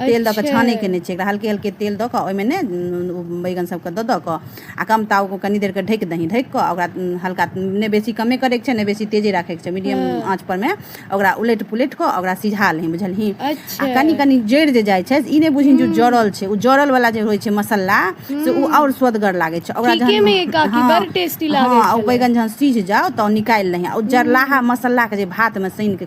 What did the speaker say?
तेल दऽ कऽ अच्छा छानै के नहि छै एकरा हल्के हल्के तेल दऽ कऽ ओहिमे ने ओ बैगन सभके दऽ दऽ कऽ आ कम ताव ओ कनि देरके ढकि दही ढकि कऽ ओकरा हल्का नहि बेसी कमे करैके छै नहि बेसी तेजे राखै के छै मीडियम हँ आँच पर मे ओकरा उलटि पुलटि कऽ ओकरा सिझा लही बुझलही आ अच्छा कनि कनि जरि जे जाइ छै ई नहि बुझही जे ओ जरल छै ओ जरल वाला जे होइ छै मसल्ला से ओ आओर सुअदगर लागै छै ओकरा ठीके मे यै जहन काकी हँ बड़ टेस्टी लागै हँ ओ छलै बैगन जहन सिझ जाउ तऽ निकालि लही आ ओ जरलाहा मसल्ला के जे भात मे सानि के